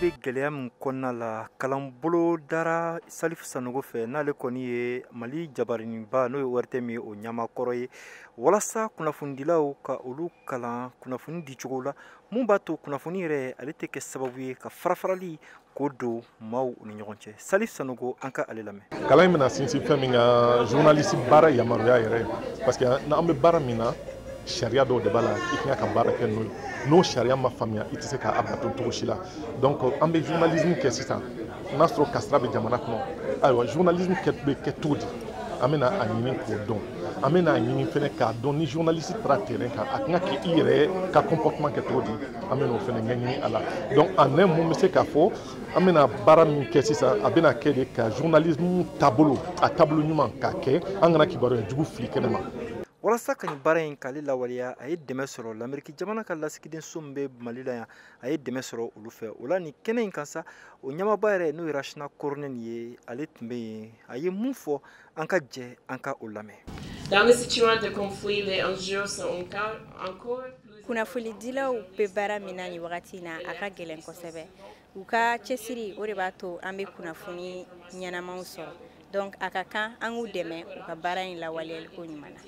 bɛ gɛlɛya min kɔnɔna la kalan bolodara salifu sanogo fɛ n'ale kɔni ye mali jabaraninba n'o ye ORTM ye o ɲɛmaa kɔrɔ ye walasa kunnafonidilaw ka olu kalan kunnafoni dicogo la mun b'a to kunnafoni yɛrɛ ale tɛ kɛ sababu ye ka farafarali ko don maaw ni ɲɔgɔn cɛ salif sanogo an ka ale lamɛn kalan in bɛna sinsin fɛn min kan journaliste baara yamaruya yɛrɛ parce que n'an bɛ baara min na sariya dɔw de b'a la i kan ka baara kɛ n'o ye n'o sariya ma faamuya i tɛ se k'a bato cogo si la donc an bɛ journalisme kɛ sisan n'a sɔrɔ kasara bɛ jamana kɔnɔ ayiwa journalisme bɛ kɛ cogo di an bɛna a ɲini k'o dɔn an bɛna a ɲini fɛnɛ k'a dɔn ni journaliste taara terrain kan a kan ka k'i yɛrɛ ka comportement kɛ cogo di an bɛna o fɛnɛ ɲɛɲini a la donc en un mot n bɛ se k'a fɔ an bɛna baara min kɛ sisan a bɛna kɛ de ka journalisme taabolo a taabolo ɲuman k'a kɛ an kana kibaruya jugu fili kɛnɛ ma walasa ka nin baara in k'ale lawaleya a ye dɛmɛ sɔrɔ lameriki jamana ka lasigidenso min bɛ mali la yan a ye dɛmɛ sɔrɔ olu fɛ o la nin kɛnɛ in kan sa o ɲɛmaaba yɛrɛ n'o ye rachna korhonen ye ale tun bɛ yen a ye mun fɔ An ka jɛ an ka o lamɛn. Dans les situations de conflit, les enjeux sont encore plus kunnafonidilaw bɛ baara min na nin wagati na a ka gɛlɛn kosɛbɛ u ka cɛsiri o de b'a to an bɛ kunnafoni ɲɛnamaw sɔrɔ donc a ka kan an k'u dɛmɛ u ka baara in lawaleyali ko ɲuman na.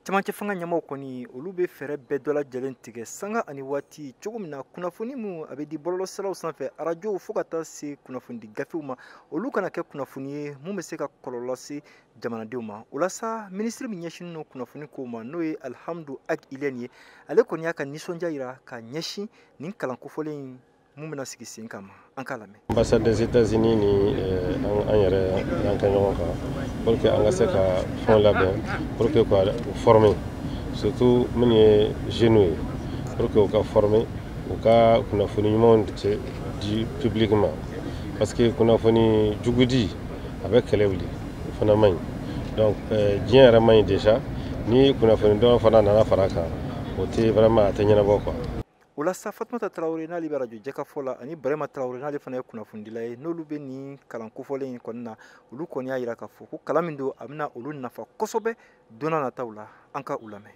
camancɛ fanga ɲɛmaaw kɔni olu bɛ fɛɛrɛ bɛɛ dɔ lajɛlen tigɛ sanga ani waati cogo min na kunnafoni min a bɛ di bɔlɔlɔsiraw sanfɛ arajow fo ka taa se kunnafonidi gafew ma olu kana kɛ kunnafoni ye mun bɛ se ka kɔlɔlɔ lase jamanadenw ma o la sa minisiri min ɲɛsinnen don kunnafoni kow ma n'o ye alhamdou ag ilyène ye ale kɔni y'a ka nisɔndiya jira ka ɲɛsin nin kalan kofɔlen in mun bɛna sigi sen kan ma an ka lamɛn ambassade des états unis ni eh, an yɛrɛ y'an kɛ ɲɔgɔn kan pour que an ka se ka fɛnw labɛn pour que ka former surtout minnu ye jeunes ye pour que u ka former u ka kunnafoni ɲumanw di public ma parce que kunnafoni jugu di a bɛ kɛlɛ wuli o fana man ɲi donc eh, diɲɛ yɛrɛ man ɲi déjà ni kunnafoni dɔ fana nana fara a kan o tɛ vraiment a tɛ ɲɛnabɔ quoi o la sa fatumata tarawele n'ale bɛ rajo jɛkafɔ la ani brɛma tarawele n'ale fana ye kunnafonidila ye n'olu bɛ nin kalan kofɔlen in kɔni na olu kɔni y'a jira k'a fɔ ko kalan min don a bɛna olu nafa kosɛbɛ don nataw la an ka u lamɛn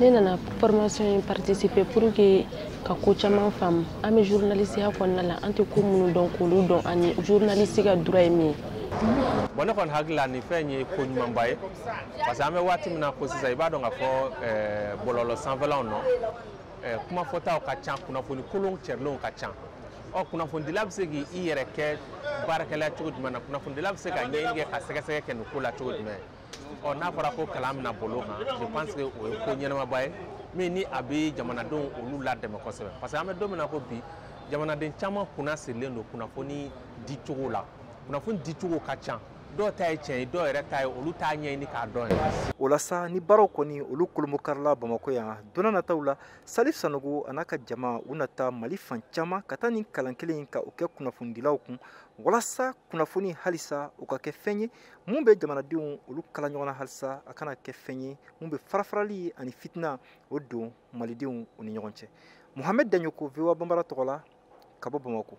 ne nana formation in participer pour que ka ko caman faamu an bɛ journalistiya kɔnɔna la an tɛ ko minnu dɔn k'olu dɔn ani journaliste ka droit ye min ye bon ne kɔni hakili la nin fɛn ye ko ɲumanba ye parce que an bɛ waati min na ko sisan i b'a dɔn k'a fɔ bɔlɔlɔ sanfɛlaw nɔ kuma fɔtaw ka ca kunnafoni kolon cɛrilenw ka ca ɔ kunnafonidila bɛ se k'i yɛrɛ kɛ baarakɛla cogo jumɛn na kunnafonidila bɛ se ka ɲɛɲini kɛ ka sɛgɛsɛgɛ kɛ nin ko la cogo jumɛn ɔ n'a fɔra ko kalan bɛna boli o kan je pense que o ye ko ɲɛnamaba ye min ni a bɛ jamanadenw olu ladɛmɛ kosɛbɛ parce que an bɛ don min na ko bi jamanaden caman kunna sirilen don kunnafoni di cogo la kunnafoni di cogo ka ca dɔw ta ye tiɲɛ ye dɔw yɛrɛ ta ye olu t'a ɲɛɲini k'a dɔn yɛrɛ o la sa nin baaraw kɔni olu kolombokarila bamakɔ yan don nataw la salif sanogo a n'a ka jama u na taa mali fan caman ka taa nin kalan kelen ka o kɛ kunnafonidilaw kun walasa kunnafoni halisa o ka kɛ fɛn ye mun bɛ jamanadenw olu kala ɲɔgɔn na halisa a kana kɛ fɛn ye mun bɛ farafarali ani fitina o don malidenw u ni ɲɔgɔn cɛ muhamɛd daɲoko voa banbara tɔgɔ la ka bɔ bamako